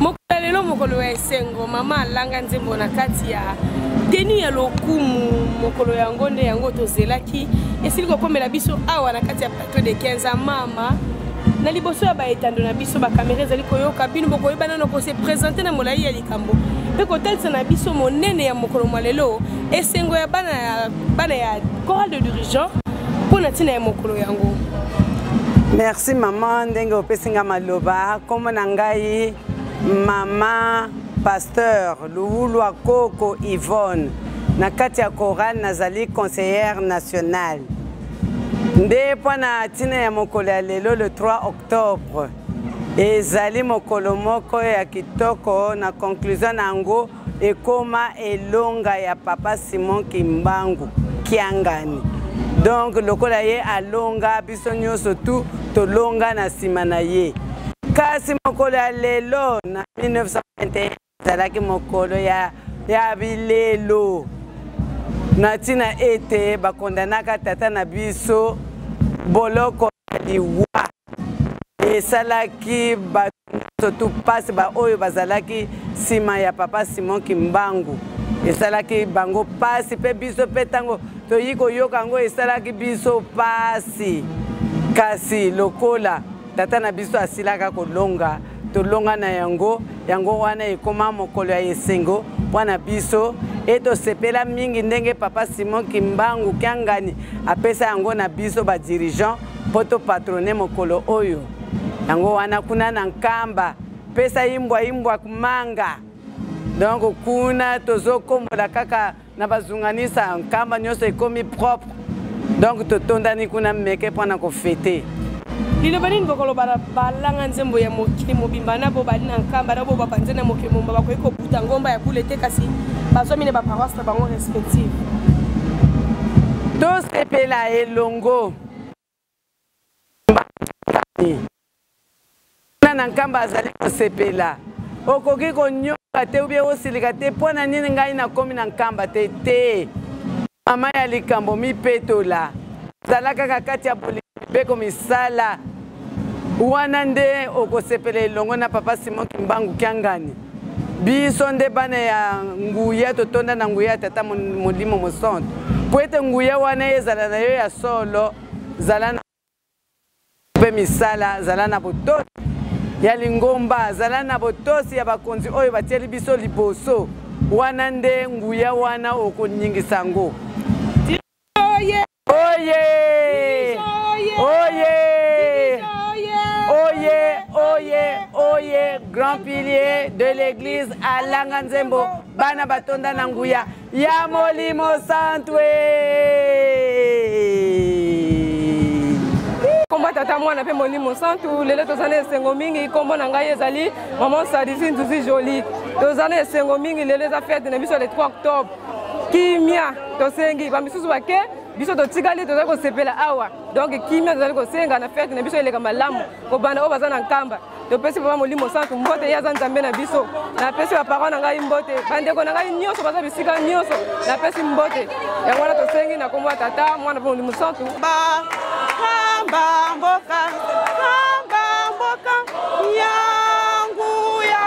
mokolo lelo mokolo ya esengo mama alanga nzembo na kati ya teni ya lokumu mokolo yango nde yango tozelaki esili kokomela biso awa na kati ya plateau de 15 mama na liboso ya baetando na biso bakamera ezali koyoka bino bokoyeba nano kose presente na molai ya likambo mpe kotalisa na biso monene ya mokolo mwa lelo esengo ya bana ya bana ya chorale de dirigeant mpo na ntina ya mokolo yango merci mama ndenge opesi ngai maloba nkombo na ngai mama pasteur luwulwa koko yvonne na kati ya chorale nazali conseillère nationale nde mpo na ntina ya mokolo ya lelo le 3 octobre ezali mokolo moko ya kitoko na conclusion na yango ekoma elonga ya papa simon kimbangu kiangani donc lokola ye alonga biso nyonso tu tolonga na nsima na ye kasi mokolo ya lelo na 1921 ezalaki mokolo ya, ya bilelo na ntina ete bakondanaka tata na biso boloko ya liwa esalaki bato nyonso mpasi baoyo bazalaki nsima ya papa simon kimbangu esalaki bango mpasi mpe biso mpe ntango toyei koyoka yango esalaki biso mpasi kasi lokola tata na biso asilaka kolonga tolonga na yango yango wana ekoma mokolo ya esengo mpo na biso e tosepela mingi ndenge papa simon kimbangu kiangani apesa yango na biso badirigeant mpo to patrone mokolo oyo yango wana kuna na nkamba pesa imbwa imbwa kumanga donc kuna tozokombola kaka na bazunganisa nkamba nyonso ekomi propre donc totondani kuna meke mpo na kofete liloba nini bokoloba na balanga nzembo ya mokili mobimba na bobali na nkamba na bobapanze na mokili mobimba bakoki ta ngomba ya bule te kasi bazwami na baparoise na bango respective tosepela elongo na nkamba azali kosepela okoki konyoka te ubie osilika te mpo na nini ngai nakomi na nkamba te te mama ya likambo mipetola zala kaka kati ya bolingo mibeko misala wana nde okosepela elongo na papa simon kimbangu kiangani biso nde bana ya nguya totonda na nguya ya tata molimo mosantu mpo ete nguya wana ezala na yo ya solo zala na mpe misala zala na botosi ya lingomba zala na botosi ya bakonzi oyo batieli biso liboso wana nde nguya wana okoningisa yango Oye! Oye! Oye! Oye! Oye! Grand pilier de l'église à Langanzembo, bana batonda na nguya ya Molimo Santwe. kombo tata mwana mpe molimo santu lelo toza na esengo mingi nkombo na ngai ezali maman sadisi nzuzi joli toza na esengo mingi lelo eza fete na biso le 3 octobre kimia tosengi bamisusu bake biso totikali tozali kosepela awa donc kimia tozali kosenga na fete na biso eleka malamu kobanda oyo baza na nkamba topesi papa molimo santu mbote ye aza nzambe na biso napesi baparent na ngai mbote bandeko na ngai nyonso baza bisika nyonso napesi mbote yango wana tosengi na kombo ya tata mwana mpe molimo santu bakamba mboka kamba mboka yangu ya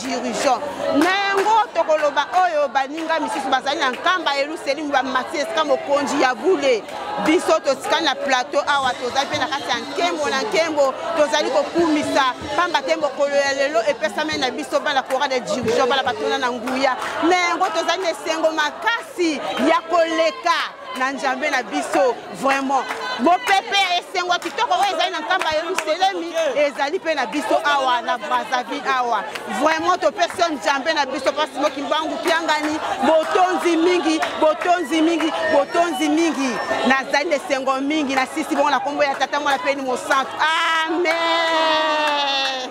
dirigeant na yango tokoloba oyo baninga misusu bazali na nkamba ya yelusalemi bamati esika mokonzi ya bule biso totikali na plateau awa tozali mpe na kati ya nkembo na nkembo tozali kokumisa mpamba te mokolo ya lelo epesameli na biso bana coral de dirigeant bana batona na nguya na yango tozali na esengo makasi ya koleka na njambe na biso vraiment mopepe ya esengo kitoko oyo ezali na nkamba yerusalemi ezali mpe na biso awa na brazzaville awa vraiment topesi yo njambe na biso mpasi mokimbangu kiangani botonzi mingi botonzi mingi botonzi mingi nazali na esengo mingi na sisi bongo na nkombo ya tata mwana mpeni mosantu amen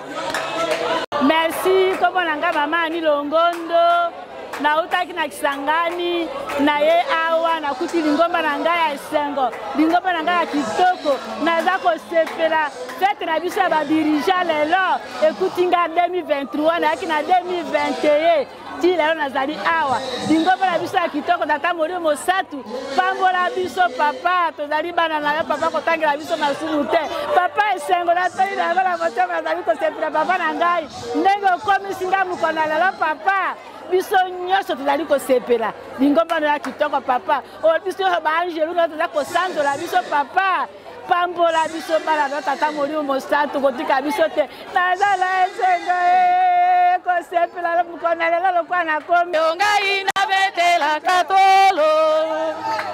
merci nkombo na ngai mama ani longondo nautaki na kisangani na ye awa nakuti lingomba na ngai ya esengo lingomba na ngai ya kitoko naza kosepela fete na biso ya badirija lelo ekuti ngai 2023 nayaki na 2021 ti lelo nazali awa lingomba na biso ya kitoko tata molio mosatu pambola biso papa tozali bana na yo papa kotangela biso masumu te papa esengo natoi na yango na motema nazali kosepela papa na ngai ndenge okomisi nga mokolo ya lelo papa biso nyonso tozali kosepela lingomba no ya kitoko papa oyo biso nyonso baangelu no toza kosanzola biso papa pambola biso bana no tata molimo mosantu kotika biso te nazala esengo eh, kosepela mokona lelo lokola nakomi ngai nabetelaka tolo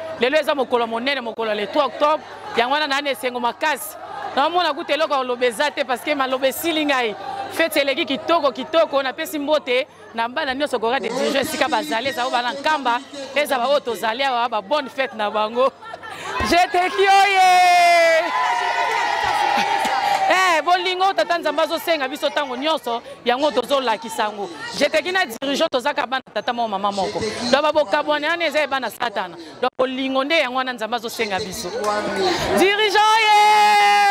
lelo eza mokolo monene mokolo ya le 3 octobre yango wana nayana esengo makasi naomona kuta eloko ya koloba eza te parce que maloba esili ngai feti eleki kitoko kitoko napesi mbote na bana nyonso kora de dijo esika bazali eza oyo bana nkamba eza baoyo tozali awa babonne fete na bango jeteki oye eh, bolingo tata nzambe azosenga biso ntango nyonso yango tozolakisa yango jeteki na dirigeant tozaka bana tata moko mama moko donc babokabwana wana eza ebana satana donc bolingo nde yango wana nzambe azosenga biso dirigeant ye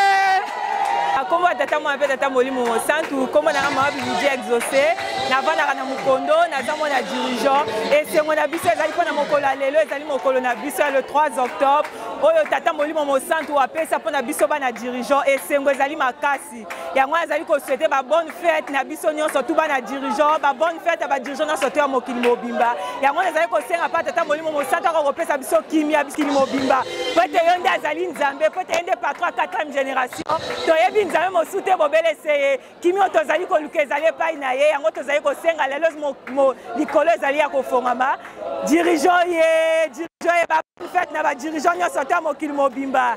akombo ya tata mwana mpe tata molimo mosantu nkombo nanga mama bibidia exauce navandaka na mokondo naza mwana dirigeant esengo na biso ezali mpo na mokolo ya lelo ezali mokolo na biso ya le 3 octobre oyo tata molimo mosantu apesa mpo na biso bana dirigeant esengo ezali makasi makasi yango wana azali kosuete babonne fete na biso nyonso tu bana dirigeant babonne fete ya badirigeant nyonso to ya mokili mobimba yango wana ezali kosenga mpe tata molimo mosantu ako kopesa biso kimia bikili mobimba mpo ete yo nde azali nzambe mpo ete ye nde patron ya 4e génération toyebi nzambe mosusu te bobele se ye kimio tozali koluka ezali epai na ye yango tozali kosenga lelo likolo ezali ya kofongama dirigeant ye dirigeant ye bafete na badirigeant nyonso to ya mokili mobimba